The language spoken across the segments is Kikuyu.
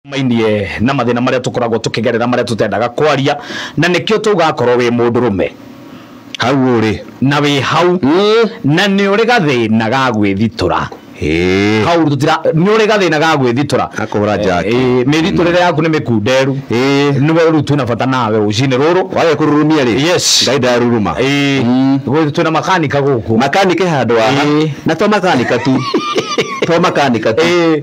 mainie na mathina maria tukoragwo tukigerera maria tutendaga kwaria na nikio tugakorwo wi mundu rume hau ũrĩ na wi hau na ni uri gathina ga gwithitura Ĩĩ. hau tutira ni uri gathina ga gwithitura Akũhũra njaki. Eh, mĩthitũrĩre yaku nĩ mĩkunderu Ĩĩ. nĩwe rĩu twĩna bata nawe rũcinĩ rũrũ wage kũrurumia rĩ Yes. ngai ndaruruma Eh, Mm. gwĩ- twĩna makanika gũkũ makanika handũ haha Ĩĩ. na to makanika tu to makanika tu Eh.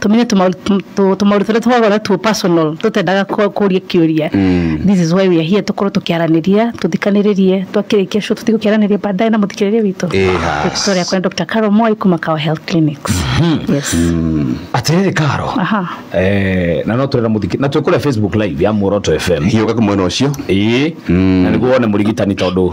tũmenye tũmaũndũ tũ- tũ- tũmaũndũ tũrĩa tũkoragwo two personal tũtendaga kũ- kũria kĩũria this is why we are here tũkorwo tũkĩaranĩria tũthikanĩrĩrie twakĩrĩkia show tũthiĩ gũkĩaranĩria baadaye na mũthikĩrĩria witũ Eh, has. Victoria yakwa nĩ Dr. Carol Moi kuma Kawa Health Clinics yes atiriri karo aha eh na no turera muthiki na twikure facebook live ya muoroto fm hiũka mwena ũcio ĩĩ na nĩguo wone mũrigitani tondũ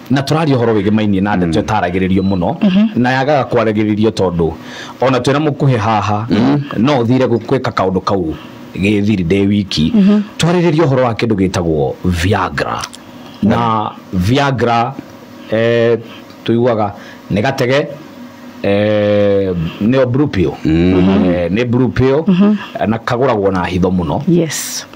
na tũraria ũhoro wĩgĩmainie na ndeto ĩtaragĩrĩrio mũno na yagaga kwaragĩrĩrio tondũ ona twĩna mũkuhĩ haha no ũthire gũ- gwĩka kaũndũ kau gĩthiri ndĩ wiki twarĩrĩria ũhoro wa kĩndũ gĩtagwo viagra na viagra eh, tũiguaga nĩ gatege eh, nĩyo blue pill Eh, nĩ blue pill na kagũragwo na hitho mũno yes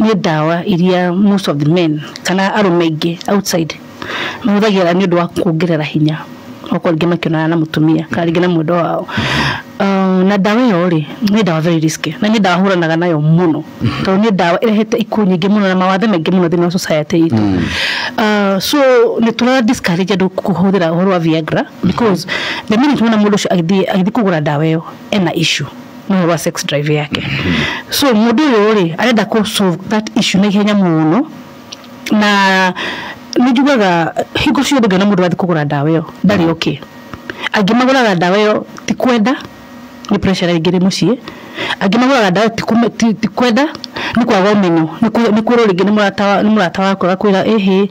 nĩ ndawa iria most of the men kana arũme aingĩ outside mahũthagĩra nĩ ũndũ wa kuongerera hinya, okorwo rĩngĩ makĩonana na mũtumia kana rĩngĩ na mwendwa wao. Na ndawa ĩyo rĩ, nĩ ndawa very risky na nĩ ndawa hũranaga nayo mũno, tondũ nĩ ndawa ĩrehete ikuũ nyingĩ mũno na mawathe maingĩ mũno thĩiniĩ wa society itũ. So nĩ tũra discourage andũ kũhũthĩra ũhoro wa Viagra because the minute wona mũndũ ũcio agĩthiĩ kũgũra ndawa ĩyo... ena issue no ũhoro wa sex drive yake so mũndũ ũyũ rĩ arenda kũ solve that issue na ihenya mũno na nĩ njugaga hingo ciothe ngĩona mũndũ athiĩ kũgũra ndawa ĩyo ndarĩ okay angĩ magũraga ndawa ĩyo ti kwenda nĩ pressure ĩngĩ ĩrĩ mũciĩ angĩ magũraga ndawa ĩyo ti kũme- ti- ti kwenda nĩ kwaga ũmenyo, nĩ kwĩrwo nĩ kwĩrwo rĩngĩ nĩ mũrata wa nĩ mũrata waku agakwĩra ĩhĩ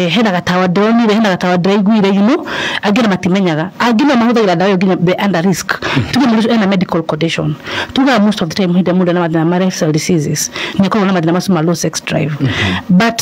hena gatawa ndĩronire, hena gatawa ndĩraiguire you know angĩ ona matimenyaga, angĩ nĩo mahũthagĩra ndawa ĩyo nginya be under risk, tuge mũndũ ũcio ena medical condition, tugaga most of the time hĩndĩ ĩrĩa mũndũ ena mathĩna ma lifestyle diseases nĩakoragwo na mathĩna macio ma low sex drive but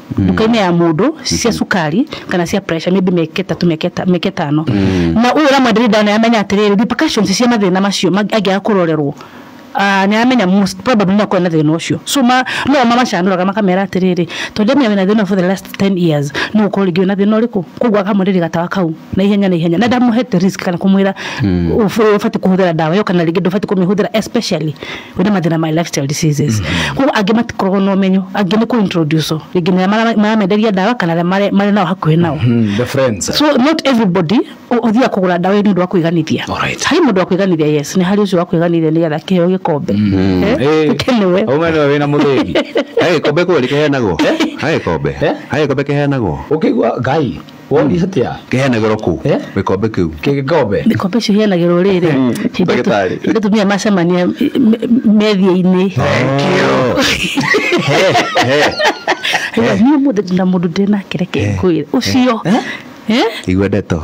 nduka-inĩ ya mũndũ cia cukari kana cia pressure maybe mĩaka ĩtatũ mĩaka ĩta- mĩaka ĩtano na ũyũ ũramwenderia ndawa nĩ aramenya atĩrĩrĩ repercussions cia mathĩna macio mang- angĩaga kũrorerwo ah, nĩ aramenya most probably no akorwo na thĩna ũcio so ma- no mamacanũraga makamera atĩrĩrĩ tondũ ndamenya wĩna thĩna ũyũ for the last 10 years no ũkorwo rĩngĩ wĩna thĩna ũrĩkũ koguo akamwenderia gatawa kau na ihenya na ihenya na ndamũhete risk kana kũmwĩra ũbatiĩ kũhũthĩra ndawa ĩyo kana rĩngĩ ndũbatiĩ kũmĩhũthĩra especially wĩna mathĩna ma lifestyle diseases koguo angĩ matikoragwo na ũmenyo angĩ nĩ kũ introduce rĩngĩ nĩ arĩa mara- maramenderia ndawa kana arĩa marĩ- marĩ nao hakuhĩ nao Mm, the friends so not everybody ũ- ũthiaga kũgũra ndawa ĩyo nĩ ũndũ wa kwĩganithia Alright. harĩ mũndũ wa kwĩganithia yes nĩ harĩ ũcio wa kwĩganithia nĩ getha kĩheo gĩkombe Eh, Eh, ũkenewe. ũme nĩwe wĩna mũthĩgi Hagä kombe kwä rä keheanagwo hagä kombe Eh? hagä kombe keheanagwo å kä igua ngai Woni atia? Kĩhenagĩrwo kũ? Eh? Gĩkombe kĩu. Kĩgĩkombe. Mĩkombe icio iheanagĩrwo rĩrĩ. Mm, hĩndĩ ndagĩtarĩ. tu- hĩndĩ atumia macemania me- me- methia-inĩ. Thank you. He, he. Hĩndĩ niĩ mũthĩ ndĩ na mũndũ ndĩ nake reke ngwĩre. Ũcio. Eh? Igua ndeto.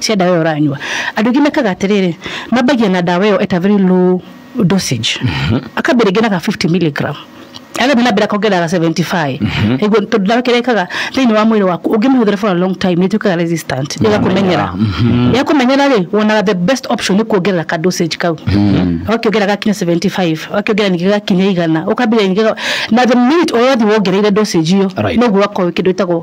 cia ndawa ĩyo ũranyua andũ aingĩ mekaga atĩrĩrĩ mambagia na ndawa ĩyo at a very low dosage akambia rĩngĩ na ga 50 milligram agathiĩ na mbere akongerera ga 75 nĩguo tondũ ndawa kĩrĩa ĩkaga thĩinĩ wa mwĩrĩ waku ũngĩmĩhũthĩra for a long time nĩ ĩtuĩkaga resistant ĩgakũmenyera yakũmenyera rĩ wonaga the best option nĩ kuongerera ka dosage kau ũgakĩongerera gakinya 75 ũgakĩongerera ningĩ gakinya igana ũkambĩrĩria ningĩ ga- na the minute ũrathiĩ wongereire dosage iyo Right. noguo ũgakorwo kĩndũ ĩtagwo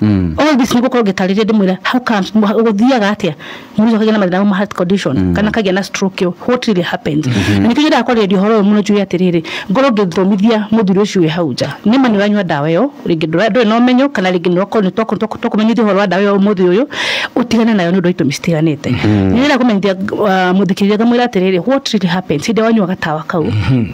Mm. all this nigukorwo ngitarĩria ndimwira how comes guthiaga atia mũndũ akagĩa na mathĩna ma heart condition mm. kana akagĩa na stroke yo what really happens mm-hmm. na nikĩgira kwaria horo muno juu ya tiriri ngoro ngithomithia muthuri ucio we hau nja ni mani wanywa dawa yo ringi ndura ndwe no menyo kana ringi no ko nitwa ko to kumenyithia horo wa dawa yo muthuri uyu utigane nayo ni ndu itu mistiriganite mm-hmm. ni ra kumenyithia uh, muthikiria ngamwira tiriri what really happens hinde wanywa gatawa kau mm-hmm.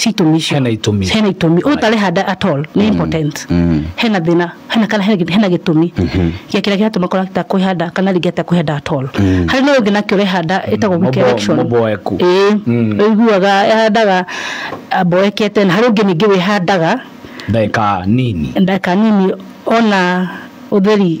ci itũmi icio Hena itũmi. hena itũmi ũyũ ũtarĩ handa at all nĩ impotent Mm. hena thĩna hena kana hena gĩ- hena gĩtũmi gĩa kĩrĩa kĩratũma kora ta kwĩhanda kana rĩngĩ ata kwĩhanda at all harĩ na ũyũ ũngĩ nake ũrehanda ĩtagwo weak Mũbo- erection mũboeku. ĩĩ ũiguaga ahandaga mboekete na harĩ ũngĩ ningĩ wĩhandaga ndagĩka nini ndagĩka nini ona ũtheri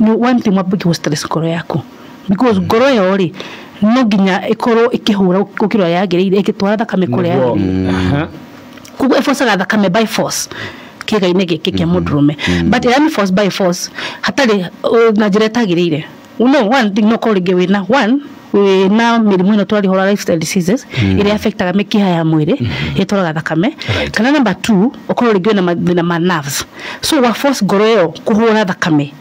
nĩ one thing wambe kũ stress ngoro yaku because ngoro ĩyo rĩ no nginya ĩkorwo ĩkĩhũra gũkĩra ũrĩa yagĩrĩire ĩgĩtwara thakame kũrĩa Nĩguo. yagĩrĩire Aha. koguo ĩbocaga thakame by force kĩga-inĩ gĩkĩ kĩa mũndũrũme but ĩrĩa nĩ force by force hatarĩ uh, na njĩra ĩtagĩrĩire no one thing no korwo rĩngĩ wĩna one na mĩrimũ ĩno twarĩhora lifestyle diseases ĩrĩa affectaga mĩkiha ya mwĩrĩ ĩtwaraga thakame Right. kana number two ũkorwo rĩngĩ wĩna mathĩna ma nerves so wa force ngoro ĩyo kũhũra thakame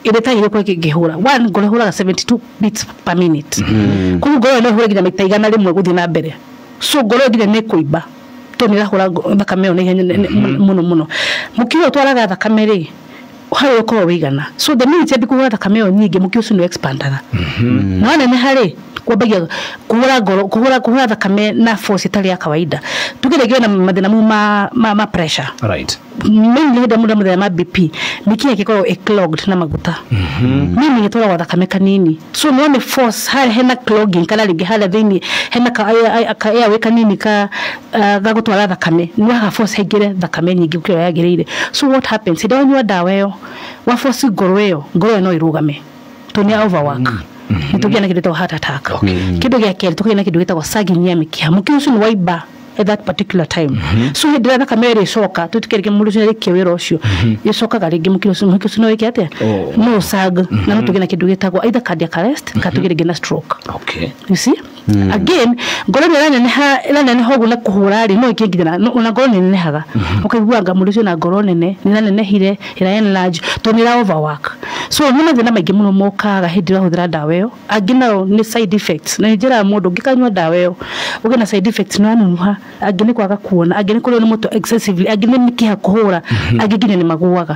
ĩrĩa ĩtagĩrĩire kũrĩa kĩngĩhũra one ngoro ĩhũraga 72 beats per minute koguo ngoro ĩyo no ĩhũre nginya maita igana rĩmwe gũthiĩ na mbere so ngoro ĩyo nginya nĩ ĩkũimba tondũ nĩ ĩrahũra ngo- thakame ĩyo na ihenya nene- mũno mũno mũkiha ũtwaraga thakame rĩ harĩa ũkoragwo wĩigana so the minute yambi kũhũra thakame ĩyo nyingĩ mũkiha ũcio nĩ expandaga na waneneha rĩ kwambagia kũhũra ngoro kũhũra kũhũra thakame na force ĩtarĩ ya kawaida tuge rĩngĩ wĩna mathĩna mau ma, ma, ma pressure right mainly hĩndĩ ĩrĩa mũndũ amũthĩna ma BP mĩkiha ĩgĩkoragwo ĩ clogged na maguta meaning ĩtwaragwo thakame kanini so no nĩ force harĩa hena clogging kana rĩngĩ harĩa thĩinĩ hena ka, ka airway kanini ka ah, ga gũtwara thakame nĩ waga force haingĩre thakame nyingĩ gũkĩra ũrĩa yagĩrĩire so what happens hĩndĩ ĩrĩa wanyua ndawa ĩyo wa force ngoro ĩyo ngoro ĩyo no ĩrũgame tondũ nĩ ya overwork nĩ tũgĩa na kĩndũ gĩtagwo heart attack kĩndũ gĩa kerĩ tũkagĩa na kĩndũ gĩtagwo sagging ya mĩkiha mũkiha ũcio nĩ waimba at that particular time so hĩndĩ ĩrĩa thakame ĩrĩ ĩcoka twĩtĩkĩre rĩngĩ mũndũ ũcio arĩkia wĩra ũcio ĩcokaga rĩngĩ mũkiha ũcio mũkiha ũcio no wĩke atĩa Oh. no ũsag na no tũgĩe na kĩndũ gĩtagwo either cardiac arrest kana tũgĩe rĩngĩ na stroke okay you see Mm. again ngoro ĩrĩa ĩraneneha ĩraneneha ũguo na kũhũra rĩ no ĩkĩnginya na- no- ona ngoro nĩnenehaga ũkaiguanga mũndũ ũcio na ngoro nene nĩranenehire ĩra enlarge to nĩ ĩra overwork so nĩ mathĩna maingĩ mũno mokaga hĩndĩ ĩrĩa ũrahũthĩra ndawa ĩyo angĩ nao nĩ side effects na njĩraga mũndũ ũngĩkanyua ndawa ĩyo ũgĩe na side effects nĩwanunuha angĩ nĩ kwaga kuona angĩ nĩ kũrĩo nĩ mũtwe excessively angĩ nĩ mĩkiha kũhũra angĩ nginya nĩ magũaga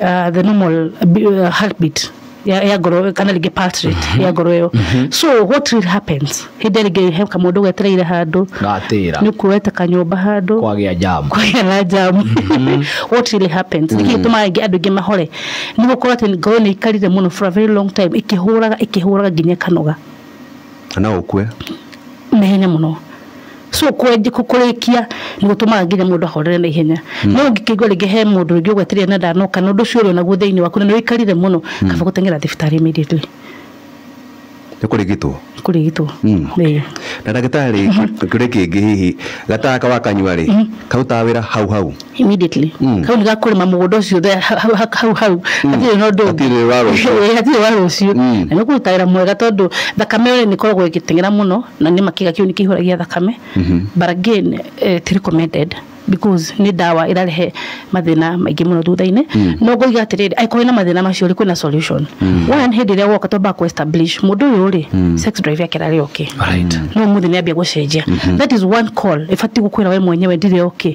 uh, the normal uh, heartbeat ya, ya ngoro kana rĩngĩ pulse rate mm -hmm. ya ngoro ĩyo mm -hmm. so what really happens hĩndĩ rĩngĩ he kamũndũ getereire handũ gatĩra nĩ kuoete kanyũmba handũ kwagĩa jamu kwagĩa na jamu mm -hmm. what really happens nĩkĩ mm. gĩtũmaga ingĩ andũ ingĩ mahore nĩ gũkorwo atĩ ngoro nĩ ikarire mũno for a very long time ikĩhũraga ikĩhũraga nginya kanoga na no ũkue. naihenya mũno so kwenje kũ- kũrĩkia nĩ gũtũmaga nginya mũndũ ahorere na ihenya no ũngĩkĩigua rĩngĩ he mũndũ rĩngĩ ũgwetereire na ndanoka na ũndũ ũcio ũrĩ onaguo thĩinĩ waku na nĩ ũikarire mũno kaba gũteng'era thibitarĩ immediately Nĩ kũrigitwo. kũrigitwo Mm. Ĩĩ. Na ndagĩtarĩ kĩũria kĩngĩ hihi gataka wakanyua rĩ karutaga wĩra hau hau. immediately mm. kau nĩgakũrĩma mũgũnda ũcio hau hau hau mm. hatirĩ na ũndũ hatirĩ wa rũciũ hatirĩ wa rũciũ mm. na nĩkũruta wĩra mwega tondũ thakame nĩ ĩkoragwo ĩgĩteng'era mũno na nĩ makĩga kĩu nĩ kĩihũragia thakame mm -hmm. but again eh, ti recommended because nĩ ndawa ĩrarehe mathĩna maingĩ mũno thutha-inĩ mm. no ngoiga atĩrĩrĩ angĩkorwo na mathĩna macio rĩ kwĩna solution mm. one hĩndĩ ĩrĩa woka twamba kũ establish mũndũ ũyũ rĩ mm. sex drive yake rarĩ okay no mũthĩ nĩ ambia gũcenjia mm-hmm. that is one call ĩbatiĩ gũkwĩra we mwenyewe ndirĩ okay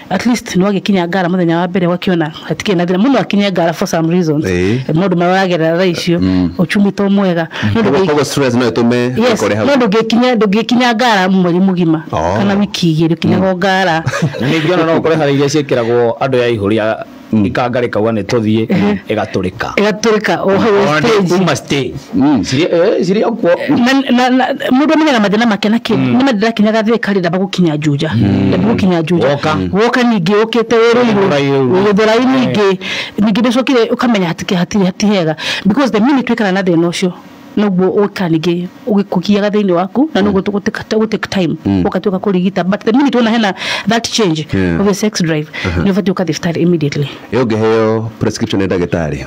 at least no agĩkinya ngara mũthenya wa mbere ũgakĩona hatikĩrĩ na thĩna mũndũ akinye ngara for some reasons Ĩĩ. maũndũ marĩa ũragerera thaa icio ũchumi to mwega Mũndũ Koguo- ũngĩ- koguo stress no ĩtũme Yes, wĩkore hau no ndũngĩkinya ndũngĩkinya ngara mweri mũgima Oh. kana wiki igĩrĩ ũkinyaga ngara ningĩ ona no ũkore harĩ iria ciĩkĩragwo andũ ya ihũri a- ikangari kauga nä tå thiä ä gatå ka ĩgatũrĩka o hau stage uma stage Mm, cirĩ eh, cirĩ o kuo Na- na- na- mũndũ amenyaga mathĩna make na kĩ nĩ mathĩna kinyaga thĩ karĩ ndamba gũkinya njuja ndamba gũkinya njuja Woka. woka ningĩ ũkĩte wĩrĩirwo Ũraihu. gũthũrai ningĩ ningĩ ndĩcokire ũkamenya hatikĩ- hatirĩ hatihega because the minute twĩkana na thĩna ũcio noguo ũka ningĩ ũgĩkũgiaga thĩinĩ waku na noguo tũgũ take- tũgũ take time ũgatuĩka kũrigita but the minute wona hena that change Yeah. of your sex drive nĩ ũbatiĩ ũka thibitarĩ immediately ĩ ũngĩheo prescription nĩ ndagĩtarĩ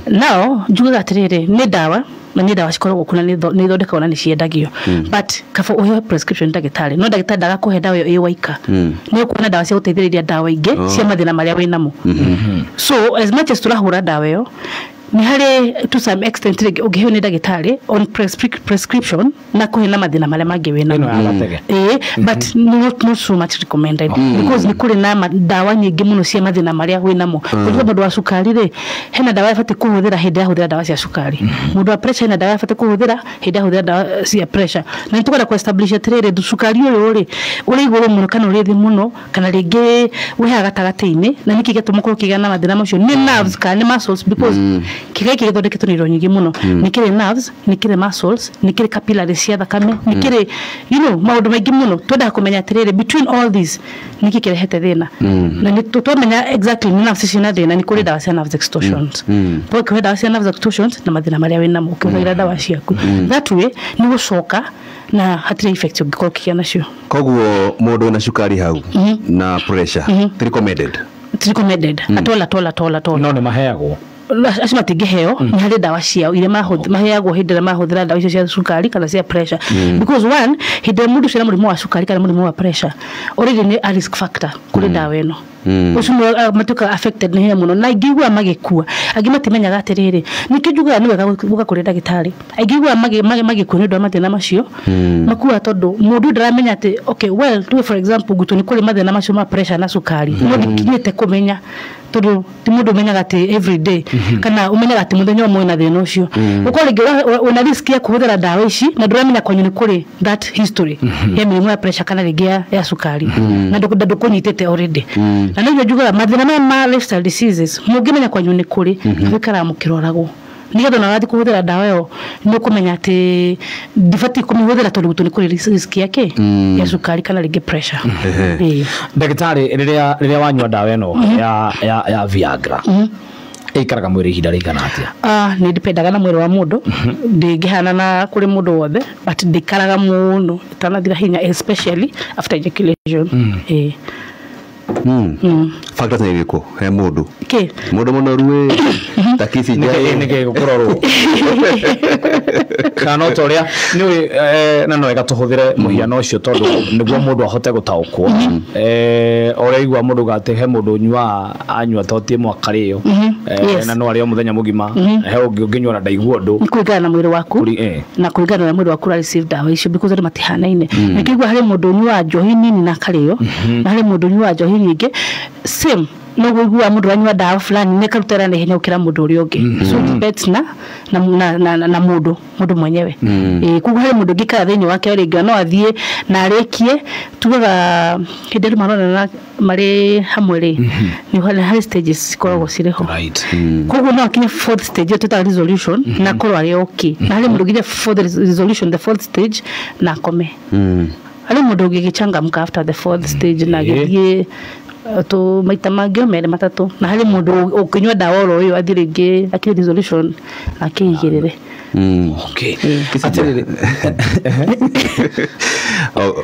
now njugaga atĩrĩrĩ nĩ ndawa na nĩ ndawa cikoragwo kuna nĩ itho- nĩ ithondekagwo na nĩ ciendagio but kaba ũheo prescription nĩ ndagĩtarĩ no ndagĩtarĩ ndagakũhe ndawa ĩyo ĩ waika nĩ ũkuona ndawa cia gũteithĩrĩria ndawa ingĩ cia mathĩna marĩa wĩ namo so as much as tũrahũra ndawa ĩyo Nĩ harĩ to some extent rĩngĩ ũngĩheo nĩ ndagĩtarĩ on prescrip- prescription na kũhe na mathĩna marĩa mangĩ wĩna ĩno ya gatege Eh, but not, not so much recommended because nĩ kũrĩ na ma- ndawa nyingĩ mũno cia mathĩna marĩa wĩ namo kũrĩa mũndũ wa cukari rĩ hena ndawa abatiĩ kũhũthĩra hĩndĩ ahũthĩra ndawa cia cukari mũndũ wa pressure hena ndawa abatiĩ kũhũthĩra hĩndĩ ahũthĩra ndawa cia pressure na nĩ tũkwenda kũ establish atĩrĩrĩ cukari ũyũ rĩ ũrĩ igũrũ mũno kana ũrĩ thĩ mũno kana rĩngĩ wĩha gatagatĩ-inĩ na nĩkĩ gĩatũma korwo kĩgĩa na mathĩna macio nĩ nerves kana nĩ muscles because kĩga gĩkĩ gĩthondeketwo na indo nyingĩ mũno nĩ kĩrĩ nerves nĩ kĩrĩ muscles nĩ kĩrĩ capillaries cia thakame nĩ kĩrĩ you know maũndũ maingĩ mũno twendaga kũmenya atĩrĩrĩ between all these nĩkĩ kĩrehete thĩna na nĩ tũ- twamenya exactly nĩ nerves ciĩ na thĩna nĩ kũrĩ ndawa cia nerves extortions kwa ũkĩhũthĩra ndawa cia nerves extortions na mathĩna marĩa wĩ namo ũkĩhũthĩra ndawa ciaku that way nĩ gũcoka na hatirĩ effect ũngĩkorwo ũkĩgĩa nacio koguo mundu wina cukari hau na pressure ti recommended It's recommended at all at all at all at all no nä maheagwo acio matingĩheo nĩ harĩ ndawa ciao iria mahũth- maheagwo hĩndĩ ĩrĩa mahũthĩra ndawa icio cia cukari kana cia pressure because one hĩndĩ ĩrĩa mũndũ ũcio ena mũrimũ wa cukari kana mũrimũ wa pressure already nĩ a risk factor kũrĩ ndawa ĩno mm. ucio mwe ah, matuka affected ni hinya muno na ingigua magikua angi matimenyaga atiriri nikio njugaga ni wega guka kuri ndagitari ingigua magi magi magikua ni ndo mathina macio mm. makua tondu mundu ndaramenya ati okay well tuwe for example gutu ni kuri mathina macio ma pressure na sukari mm. no ndikinyite kumenya tondu ti mundu umenyaga ati every day mm-hmm. kana umenyaga ati muthenya umwe na thina ucio uko ringi una risk ya kuhuthira ndawa ici na nduramenya kwanyu ni kuri that history ya mĩrimũ ya pressure kana rĩngĩ ya, ya cukari na ndũkũ- na ndũkũnyitĩte already na nĩguo njugaga mathĩna maya ma lifestyle diseases mũngĩmenya kwanyu nĩ kũrĩ mũikaraga mũkĩroragwo nĩgetha ona wathiĩ kũhũthĩra ndawa ĩyo nĩ ũkũmenya atĩ ndibatiĩ kũmĩhũthĩra tondũ gwitũ nĩ kũrĩ risk- risk ya kĩ ya cukari kana rĩngĩ pressure Ĩĩ. ndagĩtarĩ rĩrĩa rĩrĩa wanyua ndawa ĩno ya ya ya viagra ĩikaraga mwĩrĩ ihinda rĩigana atĩa Ah, nä ndipendaga na mwä rä wa må ndå ndängähana na kå rä må ndå wothe but ndäikaraga må no ĩtanathira hinya especially after ejaculation Ĩĩ. factors nä irä kå he må ndå Kĩ? må ndå må noru ä takici njaä nĩkĩ gũkũrorwo kana ta ũrĩa nĩ ũĩ eh, na no wega tũhũthĩre mũhiano ũcio tondũ nĩguo mũndũ ahote gũtaũkwo Eh, ũrĩa igua mũndũ uga atĩ he mũndũ ũnyuaga anyua toti ĩmwe akarĩo Mhm, Eh, yes. na no arĩo mũthenya mũgima Mhm. he ũngĩ ũngĩnyua na ndaigua ũndũ nĩ kũringana na mwĩrĩ waku Kũri- eh. na kũringana na mwĩrĩ waku ũrarĩcĩve ndawa icio because andũ matihanaine ningĩ igua harĩ mũndũ ũnyuaga njohi nini na akarĩo na harĩ mũndũ ũnyuaga njohi nyingĩ same noguo iguaga mũndũ ũranyua ndawa fulani nĩ karuta ĩra naihenya gũkĩra mũndũ ũrĩa ũngĩ so it depends na na, na, na, na, na mũndũ mũndũ mwenyewe Eh, koguo harĩ mũndũ ũngĩ kana thĩinĩ wake rĩngĩ no athiĩ na arĩkie tugaga hĩndĩ andũ maronana marĩ hamwe rĩ nĩ harĩ harĩ stages cikoragwo cirĩ ho Right. koguo no akinye fourth stage ĩyo twĩtaga resolution na akorwo arĩ okay na harĩ mũndũ ũngĩthiĩ fourth res- resolution the fourth stage na akome harĩ mũndũ ũngĩgĩchangamka after the fourth stage na Ĩĩ. agĩthiĩ uh, tũ maita mangĩ o merĩ matatũ na harĩ mũndũ ũ- ũkĩnyua ndawa oro ũyũ athiĩ rĩngĩ akĩrĩ resolution na akĩigĩrĩre Okay. Atĩrĩrĩ, O-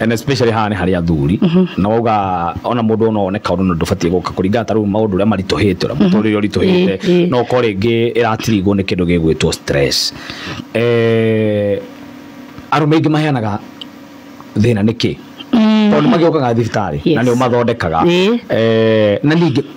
and especially haha nĩ harĩ athuri na wauga ona mũndũ ona one kaũndũ na ndũbatiĩ gũka kũringana ta rĩu maũndũ ũrĩa maritũhĩte ũrĩa mũtũrĩre Eh, ũritũhĩte eh. no ko rĩngĩ ĩratirigwo nĩ kĩndũ gĩgwĩtwo stress Eh, arũme aingĩ maheanaga thĩna nĩkĩ tondũ nĩ magĩũkaga thibitarĩ na Yes. nĩ ũmathondekaga Eh. Eh, na ningĩ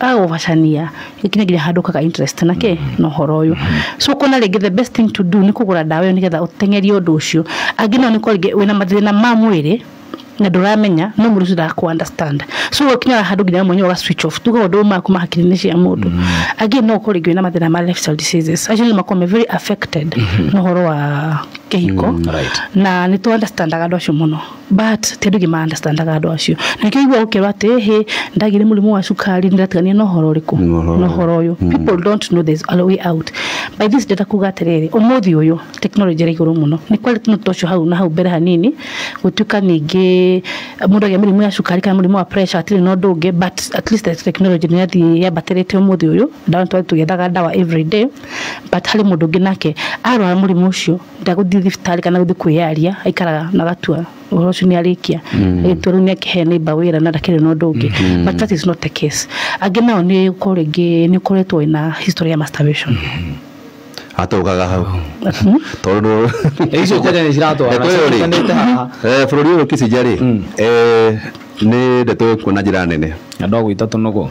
agagũbacania gĩkinye nginya handũ ũkaga interest na kĩ na ũhoro ũyũ so ũkona rĩngĩ the best thing to do nĩ kũgũra ndawa ĩyo nĩgetha ũteng'erie ũndũ ũcio angĩ nao nĩ gũkorwo rĩngĩ wĩna mathĩna ma mwĩrĩ na ndũramenya no mũndũ ũcio ndakũ understand so ũgĩkinya handũ nginya we mwenyewe ũga switch off tuge maũndũ mau ma hakiri-inĩ cia mũndũ angĩ no ũkorwo rĩngĩ wĩna mathĩna ma lifestyle diseases acio nĩ makoragwo me very affected na ũhoro wa kĩhiko right. na nĩ tũ understandaga andũ acio mũno. but ti andũ aingĩ ma understandaga andũ acio nĩkĩo igua ũkerwo atĩ hĩ ndagĩ nĩ mũrimũ wa cukari ndĩratigania na ũhoro ũrĩkũ Na ũhoro na ũhoro ũyũ people don't know there's a way out by this ndĩrenda kuga atĩrĩrĩ ũmũthĩ ũyũ tekinoronjĩ ĩrĩ igũrũ mũno nĩ kwari tene tũcio hau na hau mbere hanini gũtuĩka ningĩ mũndũ agĩa mĩrimũ ya cukari kana mũrimũ wa pressure hatirĩ na ũndũ ũngĩ but at least the technology nĩ yathiĩ yambatĩrĩte ũmũthĩ ũyũ ndawa nĩ twathiĩ tũgĩethaga ndawa every day but harĩ mũndũ ũngĩ nake arwara mũrimũ ũcio ndagũthiĩ thibitarĩ kana gũthiĩ kwĩyaria aikaraga na gatua ũhoro ũcio nĩ arĩkia agĩtua rĩu nĩ akĩhe neighbor wĩra na ndakĩrĩ na ũndũ ũngĩ but that is not the case angĩ nao nĩ gũkorwo rĩngĩ nĩ ũkoretwo wĩna history ya masturbation atũgaga hau tondå icio kenya nä ciratwarana ciranĩte haha bå rå ri å yå kicinjarä nä ndeto ä kuona njä ra nene andå agwä ta tå nogo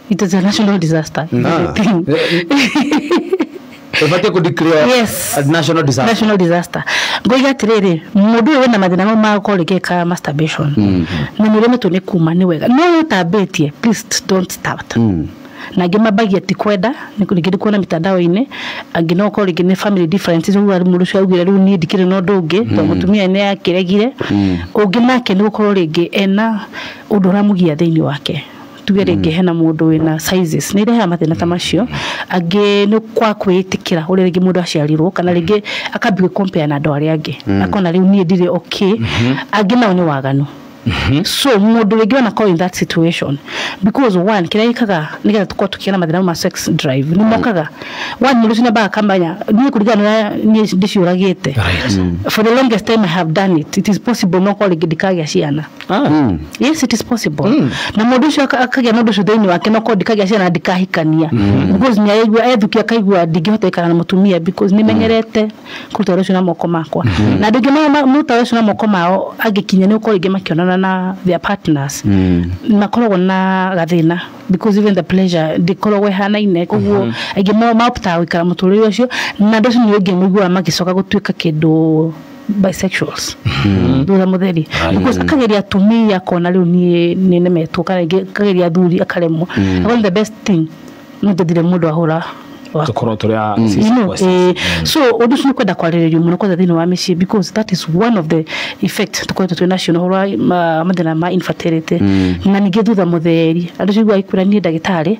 it is a national disaster is Ah. the thing. Ĩbatiĩ kũdeclare Yes. a national disaster. national disaster ngoiga atĩrĩrĩ mũndũ ũyũ wĩna mathĩna mau ma gũkorwo rĩngĩ eka masturbation na nĩ ũremetwo nĩ kuma nĩ wega no ũyũ ũtambĩtie please don't start Mm. na angĩ mambagia ti kwenda nĩ kũ- rĩngĩ nĩ kuona mĩtandao-inĩ angĩ no ũkorwo rĩngĩ nĩ family differences ũguo mũndũ ũcio augire rĩu niĩ ndikĩrĩ na ũndũ ũngĩ tondũ mũtumia nĩ akĩregire ũngĩ nake nĩ gũkorwo rĩngĩ ena ũndũ ũramũgia thĩinĩ wake tuge rĩngĩ hena mũndũ wĩna sizes nĩ irehaga mathĩna ta macio angĩ nĩ kwa kwĩĩtĩkĩra ũrĩa rĩngĩ mũndũ aciarirwo kana rĩngĩ akambia gwĩ compare na andũ arĩa angĩ akona rĩu niĩ ndirĩ okay angĩ nao nĩ waganu so mũndũ rĩngĩ wana call in that situation because one kĩrĩa gĩkaga nĩgetha tũkorwo tũkĩgĩa na mathĩna ma sex drive nĩ mokaga one mũndũ ũcio nĩambaga akamenya niĩ kũringana na ũrĩa niĩ ndĩciũragĩte for the longest time I have done it it is possible no korwo rĩngĩ ndikagia ciana Mm. yes it is possible na mũndũ ũcio aka- akagĩa na ũndũ ũcio thĩinĩ wake no korwo ndikagĩa ciana ndikahikania because nĩ aigua ethukia akaigua ndingĩhota gũikara na mũtumia because nĩ menyerete kũruta wĩra ũcio na moko makwa na andũ aingĩ ma- ma- maruta wĩra ũcio na moko mao angĩkinya nĩ gũkorwo rĩngĩ makĩonana na their partners makoragwo na gathĩna because even the pleasure ndĩkoragwo ĩhanaine koguo aingĩ mao maptaga gũikara mũtũrĩre ũcio na andũ acio nĩ ũngĩ mũiguaga magĩcoka gũtuĩka kĩndũ bisexuals thutha mutheri because akageria atumia akona riu nie ni nemetwo kana ingi akageria athuri akaremwo mm. the best thing no ndethire mundu ahura tukorwo turi a mm. you know, eh, mm. so undu ucio ni kwenda kwariririo muno kwenda thiini wa micii because that is one of the effect tukoretwo twi nacio na horo wa mathina ma infertility na ningi thutha mutheri andu cio igua ikwira nie ndagitari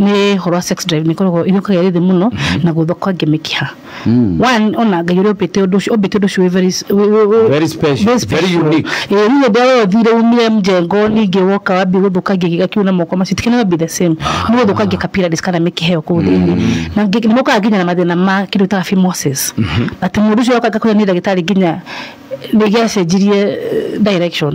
nĩ ũhoro wa sex drive nĩkoragwo ĩrĩũkaga ĩrĩ thĩ mũno na gũthũka nginya mĩkiha one ona ngai ũrĩa ũmbĩte ũndũ ũcio ũmbĩte ũndũ ũcio wĩ very s- wĩ- wĩ- wĩ- Very special, very special. very unique. Ĩĩ, rĩu hĩndĩ ĩrĩa we ũthire umire mjengo ningĩ woka wambie gũthũkangia gĩga kĩu na moko macio ti cannot be the same nĩ gũthũkangia capillaries kana mĩkiha ĩyo kũu thĩinĩ na ngi- nĩ mokaga nginya na mathĩna ma kĩndũ ta phimosis atĩ mũndũ ũcio oka ngakwĩra nĩ ndagĩtarĩ nginya nĩ gĩacenjirie eh, direction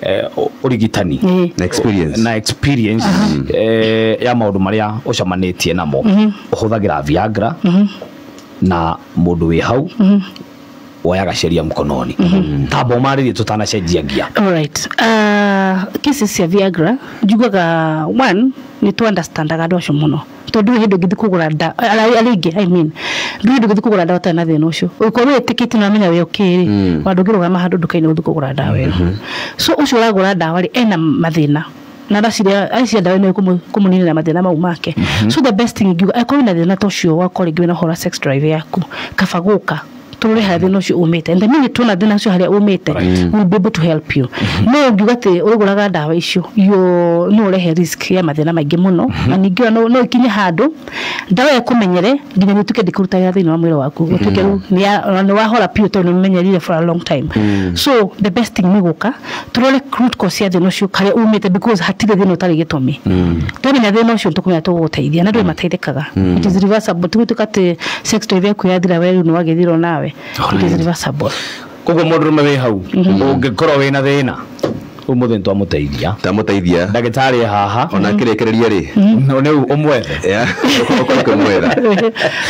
eh, ũ- ũrigitani Ĩĩ. Na experience. na experience eh, ya maũndũ marĩa ũcamanĩtie namo ũhũthagĩra viagra na mũndũ wĩ hau woyaga sheria mkononi tamba ũmarĩrie tũtanacenjia ngia Alright. Uh, cases cia Viagra njiguaga one nĩ tũ understandaga andũ acio mũno tondũ ndũrĩ hĩndĩ ũngĩthiĩ kũgũra ndawa, arĩa aingĩ I mean, ndũrĩ hĩndĩ ũngĩthiĩ kũgũra ndawa ũtarĩ na thĩna ũcio. Ũngĩkorwo wĩtĩkĩtie na ũramenya wĩ okay rĩ, ona ndũngĩrũgama handũ nduka-inĩ gũthiĩ kũgũra ndawa ĩyo. So ũcio ũragũra ndawa rĩ, ena mathĩna na ndacirĩa acio ndawa ĩno ĩkũmũ- ĩkũmũninĩra mathĩna mau make. So the best thing ingiuga, angĩkorwo wĩna thĩna ta ũcio wa gũkorwo rĩngĩ wĩna ũhoro wa sex drive yaku, kaba gũka. tũrore harĩa thĩna ũcio umĩte and the minute tuona thĩna ũcio harĩa umĩte we will be able to help you no ngiuga atĩ ũrĩgũraga ndawa icio yo- no ũrehe risk ya mathĩna maingĩ mũno na ningĩ ona no- no ĩkinye handũ ndawa ĩyo ĩkũmenyere nginya nĩ ũtuĩke ndĩkũruta wĩra thĩinĩ wa mwĩrĩ waku ũtuĩke rĩu nĩ ya- ona nĩ wahora biũ tondũ nĩ ũmenyerire for a long time so the best thing nĩ gũka tũrore root cause cia thĩna ũcio harĩa umĩte because hatirĩ thĩna ũtarĩ gĩtũmi twamenya thĩna ũcio tũkũmenya tũgũgũteithia na ndũĩ mateithĩkaga it is reversible tigutuĩka atĩ sex toy yaku yathira we rĩu nĩ wagĩthirwo nawe it is reversible koguo må ndå rå me wä hau å ngä korwo wä na thä na å må thä nä twamå teithia tamũteithia ndagä tarä e haha ona akĩrĩkĩrĩria rĩ no nä å mwethe Yeah. Ũkorwo ũkĩmwetha.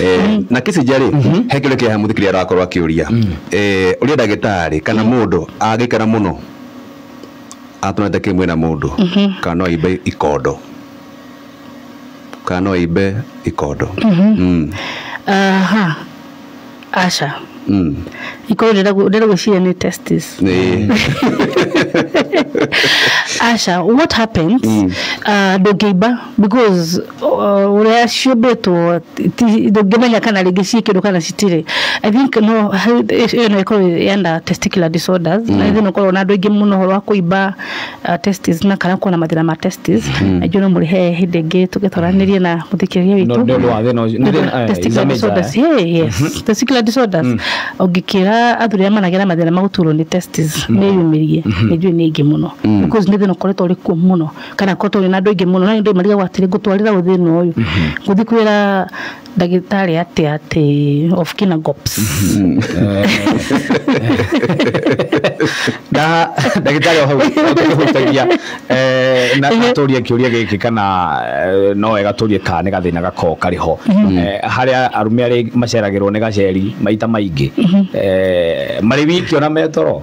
Eh, na kicinja rĩ he kä rä kä haha må thikä rä arakorwo akä å ria eh, ũrĩa ndagĩtarĩ kana mũndũ angĩkena mũno atũrete kĩ mwĩna mũndũ kana no aimbe ikondo kana no aimbe ikondo Mm, aha aca mm. ikorwo ndĩrenda gwĩciria nĩ testis Nĩ- aca what happens uh, ndũngĩimba because uh, ũrĩa ciũmbĩtwo ti- ndũngĩmenya kana rĩngĩ ciĩ kĩndũ kana citirĩ i think no he- ĩyo no ĩkorwo yenda testicular disorders na ithe no korwo na andũ aingĩ mũno ũhoro wa kũimba uh, testes na kana kuona mathĩna ma testes na ijuĩ no mũrĩhe hĩndĩ ĩngĩ tũgĩtwaranĩrie na mũthikĩrĩria witũ No, nĩ ũndũ wa thĩna ũcio- nĩ thĩna- eh, Testicular it's a major, disorders. eh? Hey, yes. Testicular disorders. ũngĩkĩra athuri arĩa managĩa na mathĩna ma gũturwo nĩ testes meyumĩrie nĩ njũĩ nĩ ingĩ mũno because nĩ thĩna ũkoretwo ũrĩ kuo mũno kana ko tũrĩ na andũ aingĩ mũno na nĩ ndĩmarigagwo atĩrĩ ngũtwarĩra ũ thĩna ũyũ ngũthiĩ kwĩra ndagĩtarĩ atĩ atĩ of kina gops na ndagĩtarĩ o hau akĩhutagia eh, na na tũrie kĩũria gĩkĩ kana eh, no wega tũrie kana nĩ gathĩna gakoragwo karĩ ho Eh, harĩa arume arĩ maceragĩrwo nĩ gaceri maita maingĩ Eh, marĩ wiki ona me toro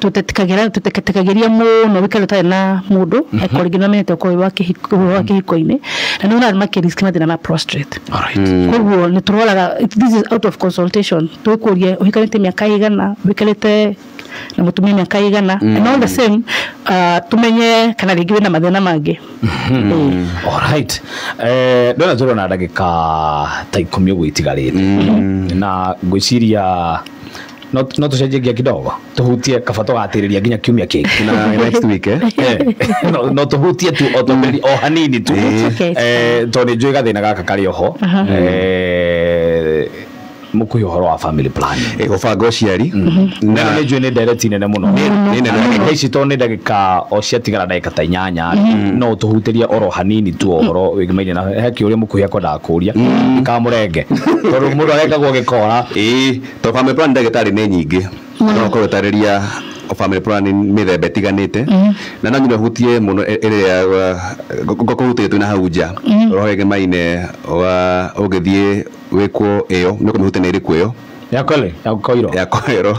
tũtetĩkagĩra tũtetĩkagĩria mũno wĩkare ũtarĩ na mũndũ angĩkorwo rĩngĩ nĩwamenyete ũkorwo wĩ wa kĩhiko ũhoro wa kĩhiko-inĩ na nĩ ũrarĩ makĩrisk mathĩna ma prostrate koguo nĩ tũroraga this is out of consultation tũgĩkũria ũhikanĩtie mĩaka ĩigana wĩkarĩte na mũtumia mĩaka ĩigana and all the same ah, tũmenye kana rĩngĩ wĩna mathĩna mangĩ Ĩĩ. Alright. Eh, ndona njorwo na ndagĩka ta ikũmi ũguo itigarĩte na ngwĩciria no no tucenjie ngia kidogo tuhutie kaba tugatirĩria nginya kiumia kĩngĩ na next week eh Eh, no- no tuhutie tu o tũmĩri o hanini tu That's okay, it's Eh, tondũ nĩ njũĩ gathĩna gaka karĩ oho Eh, mũkuhĩ ũhoro wa family plan Eh, gũbanga ũciari na nĩ njũĩ nĩ ndereti nene mũno nĩ nene ndagĩka ici to nĩ ndagĩka o ciatigara ndagĩka ta inyanya no tũhutĩrie oro hanini tu o ũhoro wĩgĩmainie na he kĩũria mũkuhĩ akwendaga kũria kamũrenge tondũ mũndũ arekagwo gĩkora ĩĩ To family planning ndagĩtarĩ nĩ nyingĩ no ũkorwo ũtarĩria family planning mĩthemba ĩtiganĩte na no nginya ũhutie mũno ĩ- ĩrĩa ngorwo hutĩtie twĩna hau nja ũhoro wĩgiĩ maine wa ũngĩthiĩ wĩkwo ĩyo nĩ ũkũmĩhutia na ĩrĩkũ ĩyo ya kole ya koiro ya koero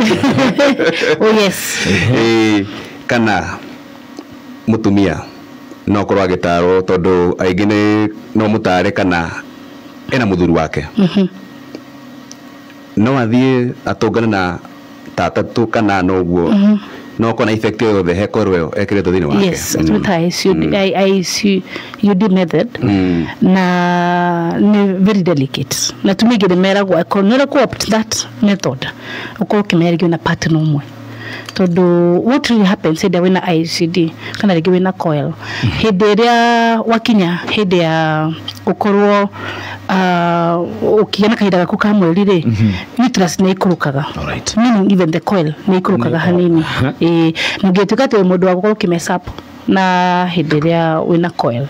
oh yes Ĩĩ, kana mũtumia no ũkorwo agĩtarwo tondũ aingĩ nĩ no mũtare kana ena mũthuri wake no athiĩ atũngane na tata tu kana ana ũguo mhm. no ũkorwo na effect o yothe he korwo ĩyo ekĩrĩtwo thĩinĩ wake yes mm. twĩta ICUD mm. method mm. na nĩ very delicate na tumĩngĩ nĩ meragwo akorwo nĩ ũrĩa ku opt that method ũkorwo ũkĩmeragio na partner ũmwe tondũ what really happens hĩndĩ ĩrĩa wĩna ICD kana rĩngĩ wĩna coil hĩndĩ ĩrĩa wakinya hĩndĩ ya gũkorwo ah, ũkĩgĩa na kahinda gaku ka mweri rĩ uterus nĩ ikũrũkaga Alright. meaning even the coil nĩ ikũrũkaga hanini Ĩĩ, na ũngĩtuĩka atĩ wĩ mũndũ wa gũkorwo ũkĩmesap na hĩndĩ ĩrĩa wĩna coil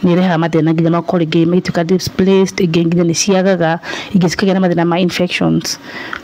nĩ ĩrehaga mathĩna nginya makoro ingĩ magĩtuĩka displaced ingĩ nginya nĩ ciagaga ingĩ cikagĩa na mathĩna ma infections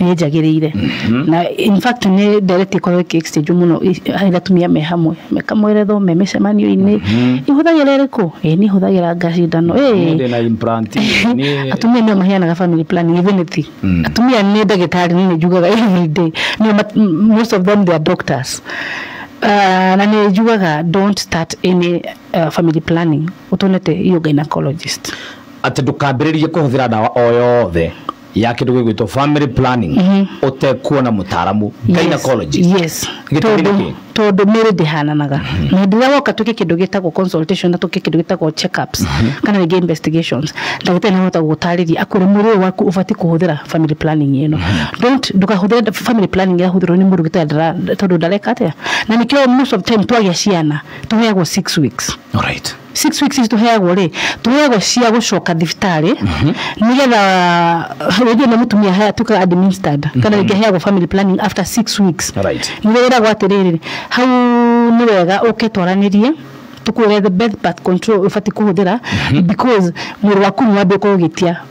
nĩ njagĩrĩire na in fact nĩ ndereti ĩkorwo ĩkĩ exchange mũno i- harĩ atumia me hamwe mekamwerethwo me mĩcemanio-inĩ ihũthagĩra ĩrĩkũ ĩ niĩ hũthagĩra ngacindano ĩ Ndĩ na implant. Niĩ- atumia nĩo maheanaga family planning even if Mm. atumia nĩ ndagĩtarĩ nĩ njugaga every day nĩo mat- m- most of them they are doctors Uh, na nĩ njugaga don't start any uh, family planning ũtonete iyo gynecologist atĩ ndũkambĩrĩrie kũhũthĩra ndawa o yothe ya kĩndũ gĩgwĩtwo family planning ũtekuona mũtaaramu gynecologist yes Gĩtũmi tondũ nĩkĩ? tondũ mĩrĩ ndĩhananaga na hĩndĩ ĩrĩa woka twĩke kĩndũ gĩtagwo consultation na twĩke kĩndũ gĩtagwo checkups kana rĩngĩ investigations ndagĩtarĩ nĩ ahota gũgũtarĩria akwĩre mwĩrĩ ũyũ waku ũbatiĩ kũhũthĩra family planning ĩno don't ndũkahũthĩre family planning ĩrahũthĩrwo nĩ mũndũ gĩtarĩ ndara- tondũ ndareka atĩa na nĩkĩo most of time twagĩa ciana tũheagwo six weeks Alright. six weeks ici tũheagwo rĩ tũheagwo cia gũcoka thibitarĩ nĩgetha rĩngĩ nĩ mũtumia haya tuĩkaga administered kana rĩngĩ aheagwo family planning after six weeks Right. nĩrĩo wĩragwo atĩrĩrĩ hau nĩ wega ũke twaranĩrie tũkwĩre the best birth control ũbatiĩ kũhũthĩra because mwĩrĩ waku nĩ wambia kũgĩtia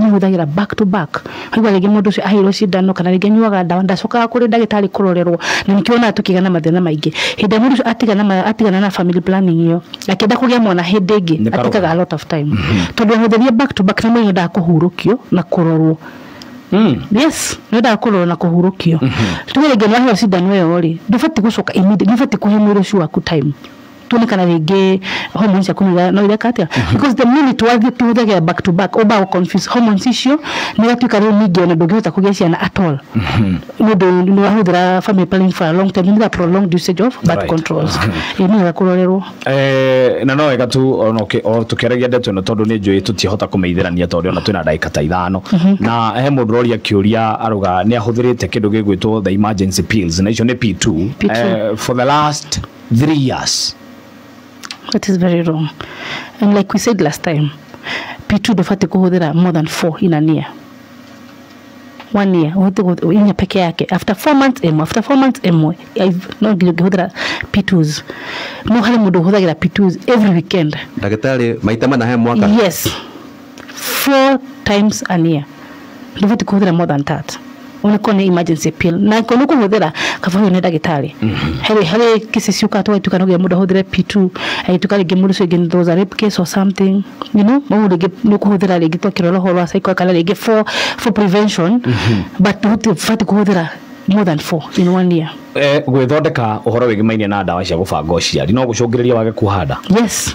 Nĩ hũthagĩra back to back. Waigua rĩngĩ mũndũ ũcio aheirwo cindano kana rĩngĩ anyuaga ndawa ndacokaga kũrĩ ndagĩtarĩ kũrorerwo na nĩkĩo wonaga tũkĩgĩa na mathĩna maingĩ. Hĩndĩ ĩrĩa mũndũ ũcio atigana atigana na family planning ĩyo akĩenda kũgĩa mwana hĩndĩ ĩngĩ Nĩ karũgano. atĩkaga a lot of time. Tondũ wahũthĩrire back to back nĩ mũndũ endaga kũhurũkio na kũrorwo. Yes, nĩ endaga kũrorwo na kũhurũkio. Tuge rĩngĩ nĩ waheirwo cindano ĩyo rĩ, ndũbatiĩ gũcoka immediately nĩ ũbatiĩ kũhe mwĩrĩ ũcio waku time. tuone kana rĩngĩ hormones ciaku no ira- no ireka atĩa because the minute wathiĩ tũhũthagĩra back to back ũmba confuse hormones icio nĩ gatuĩka rĩu ningĩ ona ndũngĩhota kũgĩa ciana at all nĩ ũndũ nĩ wahũthĩra family planning for a long time nĩ prolonged usage of birth Right. controls ĩ nĩ wega kũrorerwo Eh, na no wega tu ona ũkĩ- o tũkĩaragia ndeto ĩno tondũ nĩ njũĩ tũtiahota kũmeithĩrania tondũ ona twĩna ndagĩka ta ithano na he mũndũ ũroria kĩũria aruga nĩ ahũthĩrĩte kĩndũ gĩgwĩtwo the emergency pills na icio nĩ P2 P2. Eh, for the last three years That is very wrong. And like we said last time, P2 ndũbatiĩ kũhũthĩra more than four in a year. One year, ũhote kũhũthĩra inya peke yake. After four months ĩmwe, after four months ĩmwe. I've- No nginya ũngĩhũthĩra P2s. No harĩ mũndũ ũhũthagĩra P2s every weekend. ndagĩtarĩ maita mana he mwaka Yes. four times an year ndũbati kũhũthĩra more than that ũnĩkorwo nĩ emergency pill na ko nĩkũhũthĩra kaba ũyũ nĩ ndagĩtarĩ harĩ harĩ kĩsi ciũkaga tũgatuĩka no nginya mũndũ ahũthĩre p2 agĩtuĩka rĩngĩ mũndũ ũcio rĩngĩ there was a rape case or something you know ũguo rĩngĩ nĩkũhũthĩra rĩngĩ twakĩrora ũhoro wa cycle kana rĩngĩ for for prevention but ndũbati kũhũthĩra more than four in one year Eh, gwĩthondeka ũhoro wĩgĩmainie na ndawa cia gũbanga ũciari no gũcũngĩrĩria wage kuoha nda yes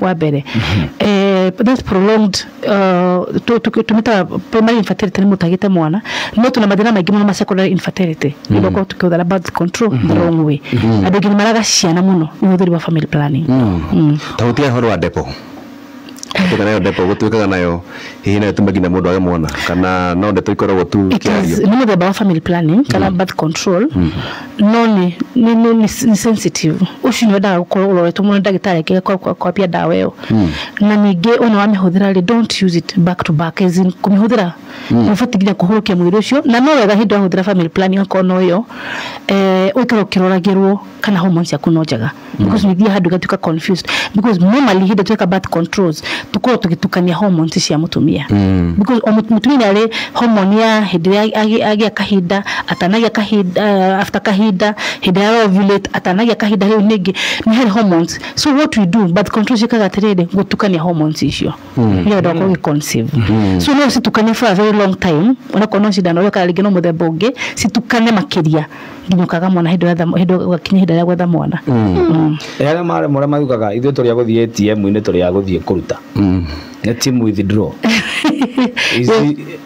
wa mbere eh, that's prolonged uh, tu- tu- tumĩtaga primary infertility nĩ mũtagĩte mwana no tuna mathĩna maingĩ mũno ma secondary infertility nĩ gũkorwo tũkĩhũthĩra birth control the wrong way andũ aingĩ nĩ maraga ciana mũno nĩ ũhũthĩri wa family planning Mm. ta gũtiga ũhoro wa ndepo tuka nayo ndepo gũtuĩkaga nayo hihi nayo tume nginya mũndũ age mwana kana no ndeto ikoragwo tu It is- kĩario nĩ mũthemba wa family planning kana birth control No nĩ nĩ nĩ nĩ- nĩ sensitive ũcio nĩ wendaga gũkorwo ũroretwo mũno nĩ ndagĩtarĩ akĩrĩa kwa- kwa- kwambia ndawa ĩyo na ningĩ ona wamĩhũthĩra rĩ don't use it back to back as in kũmĩhũthĩra nĩ ũbatiĩ nginya kũhũrũkia mwĩrĩ ũcio na no wega hĩndĩ ĩrĩa wahũthĩra family planning okorwo no ĩyo eh, ũikare ũkĩroragĩrwo kana hormones ciaku no njega because we thiĩ handũ igatuĩka confused because normally hĩndĩ tweka birth controls tũkorwo tũgĩtukania hormones cia mũtumia because o mũtu- mũtumia nĩ arĩ hormone ya hĩndĩ ĩrĩa agĩ- agĩa kahinda atanagĩa kahinda uh, after kahinda hĩndĩ ya ovulate atanagĩa kahinda rĩu ningĩ nĩ harĩ hormones so what we do birth control ciĩkaga atĩrĩrĩ gũtukania hormones icio hiyo ndio kwa conceive so no citukane for a very long time ona kono cindano yo kana rĩngĩ no mũthemba ũngĩ citukane makĩria nginya ũkaga mwana hĩndĩ ĩrĩa tha- hĩndĩ ũgakinya hĩndĩ ĩrĩa gwetha mwana Mm. arĩa marĩ marĩa maugaga ithuĩ tũrĩa gũthiĩ ATM-inĩ tũrĩa gũthiĩ kũruta nĩ team withdraw Ici-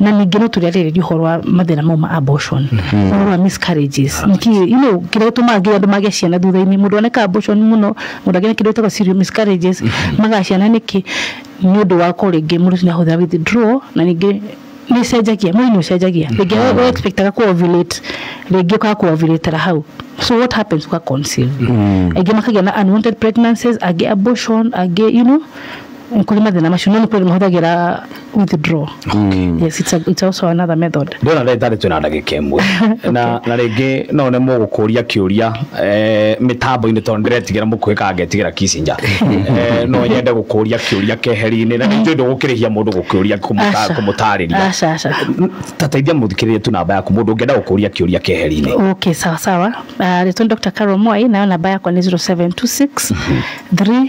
na ningĩ no tũrĩarĩrĩria ũhoro wa mathĩna mau ma abortion ũhoro wa miscarriages nĩkĩ you know kĩrĩa gĩtũmaga nginya andũ mage ciana thutha-inĩ mũndũ oneka abortion mũno mũndũ agĩe na kĩndũ gĩtagwo serial miscarriages maga ciana nĩkĩ nĩ ũndũ wa ko rĩngĩ mũndũ ũcio nĩahũthĩra withdraw na ningĩ nĩ ĩcenjagia mwĩrĩ nĩ ũcenjagia rĩngĩ we- we expectaga kũ ovulate rĩngĩ ũkaga kũ ovulatera hau so what happens ũka conceive aingĩ makagĩa na unwanted pregnancies angĩ abortion angĩ you know Nĩ kũrĩ mathĩna macio no nĩ kũrĩ mahũthagĩra withdraw yes it's, a, it's also another method ndona ndagĩtarĩ twĩna ndagĩka ĩmwe na na rĩngĩ no nemwo gũkũria kĩũria eh, mĩtambo-inĩ tondũ ndĩretigĩra mũkuhĩ kana ngetigĩra kicinja Eh, no nyende gũkũria kĩũria keheri-inĩ na nĩnjũĩ ndũgũkĩrĩhia mũndũ gũkĩũria kũmũta- Aca. kũmũtarĩria aca aca ta teithia mũthikĩrĩria tu namba yaku mũndũ ũngĩenda gũkũria kĩũria keheri-inĩ okay sawa sawa uh, rĩtwa nĩ dr carol mwai nayo namba yakwa nĩ 0726 3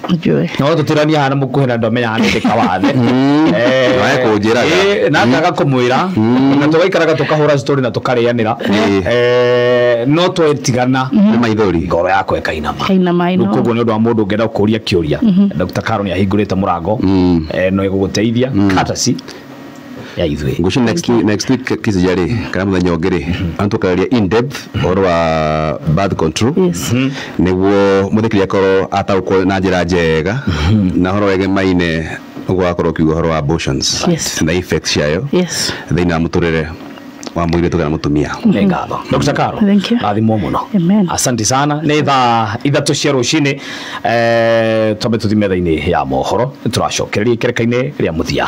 njũĩ no tũtirania hana mũkuhĩ na ndomenya hana ndĩka wathe Eh, Wae kũnjĩraga. eh, na ngaga kũmwĩra na tũgaikaraga tũkahũra story na tũkarĩanĩra Eh. Eh, no twetigana nĩ maithori ngoro yakwa ĩkainama kaina maĩ no koguo nä å ndå wa må ndå ngenda kå ria kä å ria dr karo nä ahingå rä te må rango no ä gå gå teithia katasi ya ithuĩ Ngucu next week, next week kisija rĩ kana muthenya ũngĩ rĩ antu kararia in depth ũhoro wa birth control Yes. nĩguo mũthikiri akorwo ataũkwo na njĩra njega na ũhoro wege maine ũguo wakorwo ũkiuga ũhoro wa abortions Yes. na effects ciayo yes thĩinĩ wa mũtũrĩre wa mũirĩtu kana mũtumia nä ngatho dr karo Thank you. rathimwo må no Amen. asanti sana nä thaa ithatå cia rå cinä twambe tå thi metha-inä ya mohoro tå racokererie kereka-inä rä a må thia